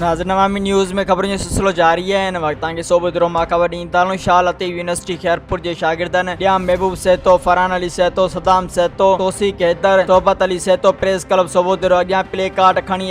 ناظرين عوامي نيوز ۾ خبرن جو سلسلو جاري آهي هن وقت توهان کي صوبو درو مان خبر ڏيندي تعليم شاهه لطيف يونيورسٽي خيرپور جي شاگردن ڄام محبوب سهتو فرحان علي سهتو صدام سهتو توثيق حيدر صحبت علي سهتو پريس ڪلب صوبو درو اڳيان پلي ڪارڊ کڻي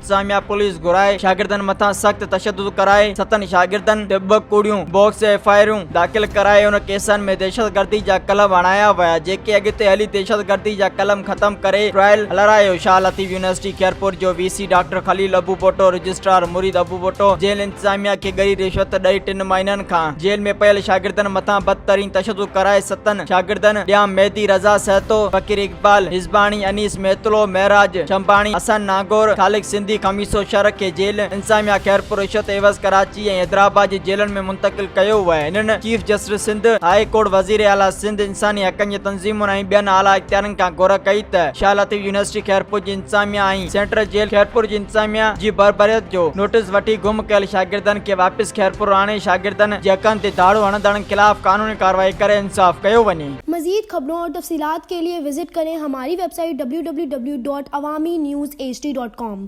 انتظاميا پوليس گهرائي شاگردن مٿان سخت تشدد ڪرائي ستن شاگردن تي ٻه ڪوڙيون باڪس ايف آء آرون داخل ڪرائي ان ڪيسن ۾ دهشتگردي جا قلم هڻايا ويا جيڪي اڳتي هلي دهشتگردي جا قلم ختم ڪري ٽرائل هلارايو شاهه لطيف يونيورسٽي خيرپور جو وي سي ڊاڪٽر خليل ابو ڀٽو رجسٽرار مريد ابو ڀٽو جيل انتظاميا کي ڳري رشوت ڏئي ٽن مهينن کان جيل ۾ پيل شاگردن مٿان بدترين تشدد ڪرائي ستن شاگردن ڏيام مهدي رضا سهتو، فقير اقبال حزباڻي، انيس مهتلو، معراج شنباڻي، حسن نانگور، خالق سنڌي خميسو شر کي جيل انتظاميا خيرپور رشوت عيوض ڪراچي ۽ حيدرآباد جي جيلن ۾ منتقل ڪيو ويو ۽ هنن chief justice Sindh high court وزير اعليٰ سنڌ انساني حقن جي تنظيمن ۽ ٻين اعليٰ اختيارين کان گهر ڪئي ته شاهه لطيف يونيورسٽي خيرپور جي انتظاميا ۽ سينٽرل جيل خيرپور جي انتظاميا جي بربريت جو نوٽيس وٺي گم ڪيل شاگردن کي واپس خيرپور آڻي شاگردن جي حقن تي ڌاڙو هڻندڙن خلاف قانوني ڪارروائي ڪري انصاف ڪيو وڃي. مزيد خبرون اور تفصيلات کے لئے وزٽ کریں ہماری ویب سائٹ www.awaminews hd.com.